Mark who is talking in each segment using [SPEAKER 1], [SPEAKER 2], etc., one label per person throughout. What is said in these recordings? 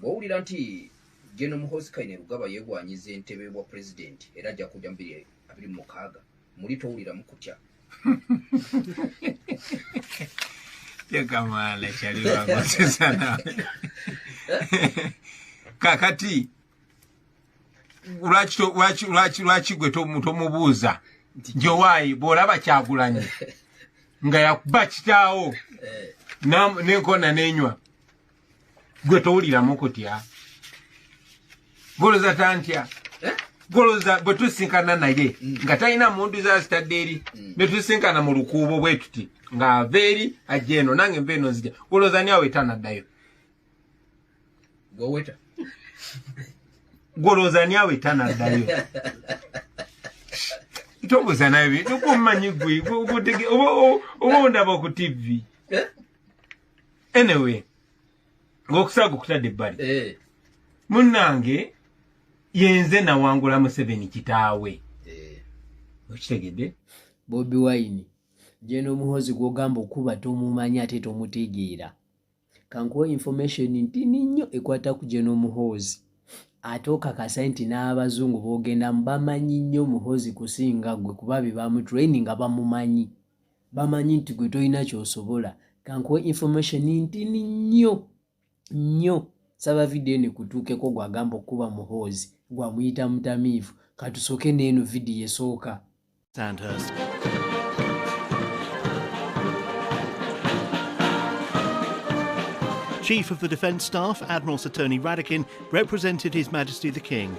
[SPEAKER 1] Bw'owulira nti General Muhoozi Kainerugaba yeegwanyiza entebe y'obwa pulezidenti era ajja kujja mu bibiri abiri mu mukaaga muli towuliramu kutya
[SPEAKER 2] tekamala kyali lwagosesa nawe kakati lwaki gwe tomubuuza nti owaayi bw'olaba kyagulanyi nga yakuba kitaawo eh. nenkona nenywa gwe towuliramu kutya goloza tantya eh? goloza bwe tusinkana naye mm. nga talina mundu za zitadde eri mm. ne tusinkana mu lukuubo bwe tuti ng'ava eri ajja eno nange nva eno nzija goloza ni awo etanaddayo gweweta goloza ni awo etanaddayo tobuza nayo byokumanyi gwe oba ondaba ku tivi eh? anyway ngokusaaga okutadde ebbali eh. munnange yenze nawangula museveni kitaawe eh. okitegedde bobi
[SPEAKER 3] wine jena omuhozi gwogamba okuba tomumanya ate tomutegeera kankuwa information ntini nnyo ekwata ku jena omuhoozi ate okakasa nti n'abazungu boogendamu bamanyi nnyo omuhoozi kusinga gwe kuba be bamutraininga bamumanyi bamanyi nti gwe tolina kyosobola kankuwa information ntini nnyo nnyo saba vidiyo eno ekutuukeko gwagamba okukuba muhoozi gwamuyita mutamiivu katusooke neeno vidiyo esooka Sandhurst.
[SPEAKER 4] Chief of the Defence Staff, Admiral Sir Tony Radakin, represented His Majesty the King.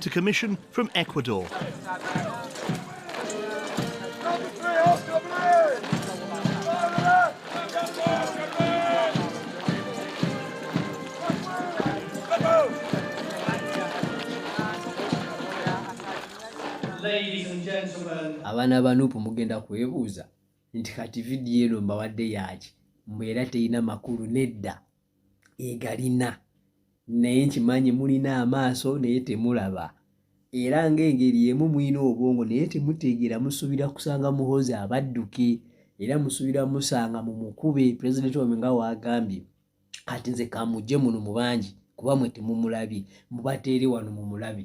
[SPEAKER 4] to commission from Ecuador.
[SPEAKER 5] abaana ba nupu
[SPEAKER 3] mugenda kwebuuza nti kati vidiyo eno mbawadde yaaki mbu era terina makulu nedda egalina naye nkimanyi mulina amaaso naye temulaba era ng'engeri emu mulina obwongo naye temutegeera musuubira kusanga muhozi abadduke era musuubira musanga mu mukube pulezidenti wamwe nga waagambye kati nze kamujje muno mu bangi kuba mwe temumulabye mubateere wano mu mulabe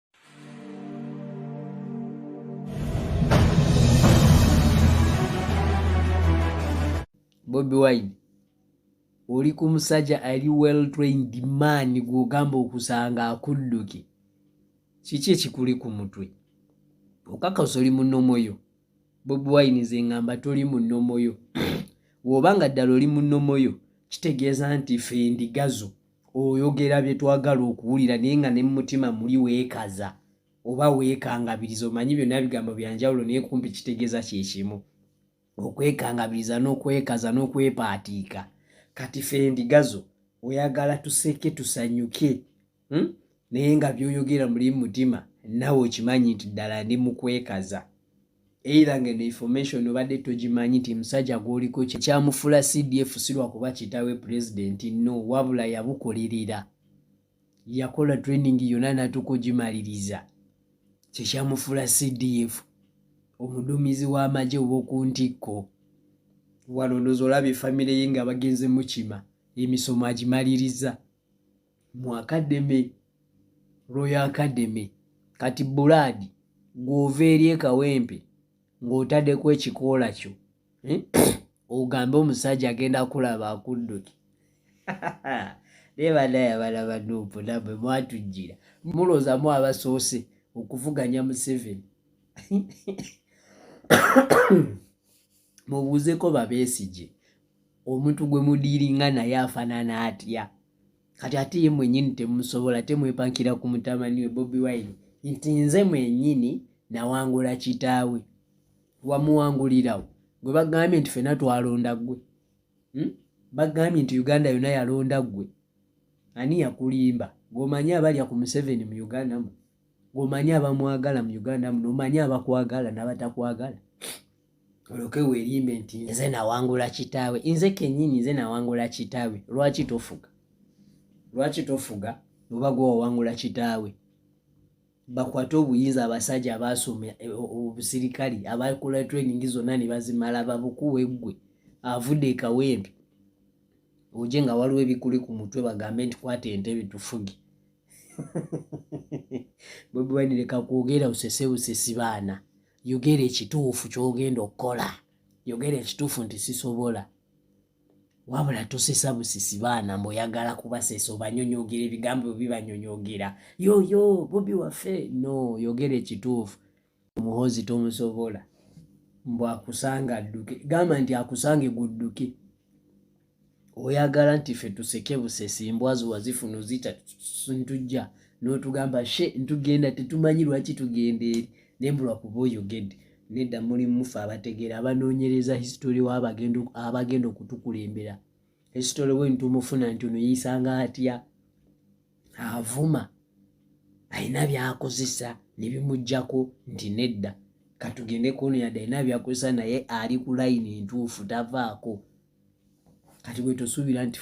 [SPEAKER 3] bobi wine oli ku musajja ali well trained man gwogamba okusanga akudduke kiki ekikuli ku mutwe okakasa oli mu nomo yo bobi wine nze ngamba toli mu nomo yo woba nga ddala oli mu nomo yo kitegeeza nti fe ndigazo oyogera bye twagala okuwulira naye nga ne mu mutima muli weekaza oba weekangabiriza omanyi byonna bigambo bya njawulo naye kumpi kitegeeza kye kimu okwekangabiriza n'okwekaza n'okwepaatiika kati fe endigazo oyagala tuseke tusanyuke hmm? naye nga byoyogera muli mutima nawe okimanyi nti ddala ndi mukwekaza either ngeno information obadde togimanyi nti musajja gwoliko kyekyamufula cdf sirwa kuba kitawe president no wabula yabukolerera yakola training yona natuka ogimaliriza kyekyamufula cdf omudumizi w'amagye owokuntikko wano ndoza olaba efamire ye nga bagenze mukima emisomo agimaliriza mu akademe royo akademe kati bulaadi ng'ova eri ekawempe ng'otaddeko ekikoola kyo eh? ogambe omusajja agenda kulaba akudduki naye banaya bana banuupu namwe mwatujjira muloozamu abasoose okuvuganya museveni mubuuzeko babesigye omuntu gwe mudiiringa naye afanana atya kati ate ye mwenyini temusobola temwepankira ku mutamani we bobi wine nti nze mwenyini nawangula kitaawe wamuwangulirawo gwe bagambye nti fena twalonda gwe hmm? bagambye nti uganda yona yalonda gwe ani yakulimba gwomanyi abalya ku museveni mu uganda mu omanyi abamwagala mu uganda muno omanyi abakwagala nabatakwagala oloke werimbe nti nze nawangula kitaawe nze kenyini nze nawangula kitaawe lwaki tofuga lwaki tofuga oba gwe wawangula kitaawe bakwate obuyinza abasajja abaasoma eh, obusirikali abakola training zonna ne bazimala babukuwe ggwe avudde ekawempe oje nga waliwo ebikuli ku mutwe bagambe nti kwata entebe tufuge bobi wine leka kwogera usese usesi baana yogera ekituufu kyogenda okukola yogera ekituufu nti sisobola wabula tosesa busisi baana mboyagala kubasesa obanyonyogera ebigambo bibanyonyogera yoyo bobi waffe no yogera ekituufu omuhozi tomusobola mbu akusanga adduke gamba nti akusange gudduke oyagala nti fe tuseke busesi mbwazi wazifuna ozita ntujja n'otugamba she ntugenda tetumanyi lwaki tugenda eri naye mbulwa kuba oyogedde nedda muli mufe abategeera abanoonyereza history w'abagenda okutukulembera esitole we ntumufuna nti ono yeisanga atya avuma alina byakozesa nebimugjako nti nedda katugende kuono yadde alina byakozesa naye ali ku layini entuufu tavaako kati bwetusuubira nti